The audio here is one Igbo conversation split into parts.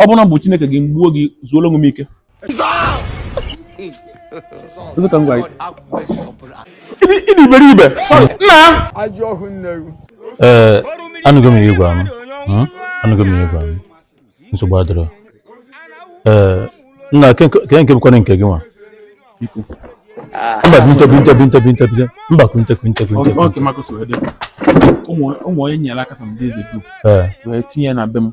ọ bụrụ na m bụ chineke gị m gbuo gị zuoro onwe m ike ị dị iberibe nna ee anụgo m ihe ị gwa m hmm? anụgo m ihe ị gwa m nsogbu adịrọ ee nna kee nke bụkwanụ nke gị nwa mba binta mba kunta ụmụ onye nyere aka some days ago wee tinye na be m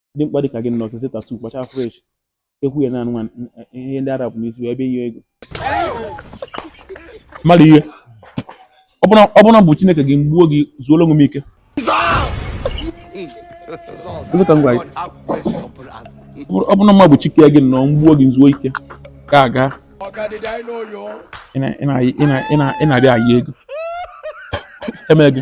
dimkpa dịka gị nwa sesi tattoo kpacha fresh ekwu ya naanị nwa ihe ndị arab n'isi wee bịa ịyọ ego mmadụ ihe ọ bụrụ na m bụ chineke gị m gbuo gị zuolu onwe m ike ọ bụ na m bụ chi ke gị nwa m gbuo gị zuo ike ka aga ị na-abịa ayọ ego emere gị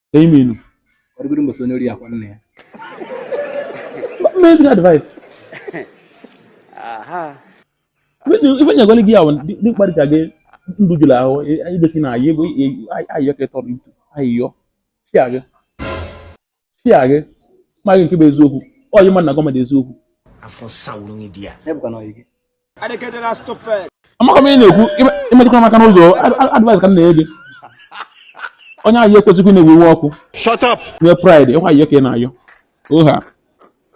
ka ime inu ọ dịgoro mbọsị onye ori akwa nna ya amazing advice ife nyegwele gị ya bụ dimkpa dị ka gị ndụ jụrụ ahụ idochi na-ayọ ayịyọ ka ị tọrọ itu ayịyọ chia gị chia gị ma gị nke bụ eziokwu ọyị mmadụ na gọọmenti eziokwu afọ sawuru gị di ya ebụkwa na ọyị gị amaka m ị na-ekwu i metụkwa m aka n'ụzọ advice ka m na-enye gị onye ayịyọ ekwesịghị na-ewe iwe ọkụ nwee pride ọ kwa ayịyọ ka ị na-ayọ oha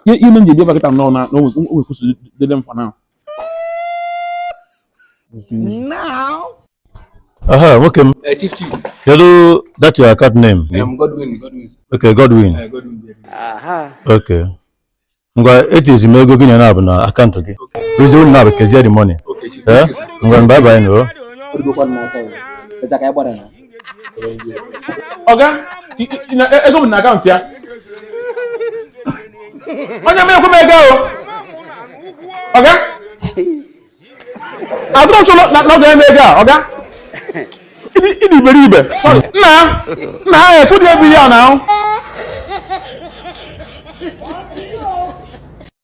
ihe ime nji bịa bakịta nọ na onwekwụsị dede mfa na aha nwoke m eh, kedu that your account name eh, okay Godwin eh, okay ngwa etinyezi m ego gị naabọ na akaụntụ gị rụzie unu naabọ kezie the money ee eh? ngwa bye bye nụ o ọga ego m na akaụntụ ya onye m ekwe m ego ọga adịrọ m sure na ọ ga-enye m ego a ọga ị dị iberibe nna nna ha ekwudị ebe ihe a na ahụ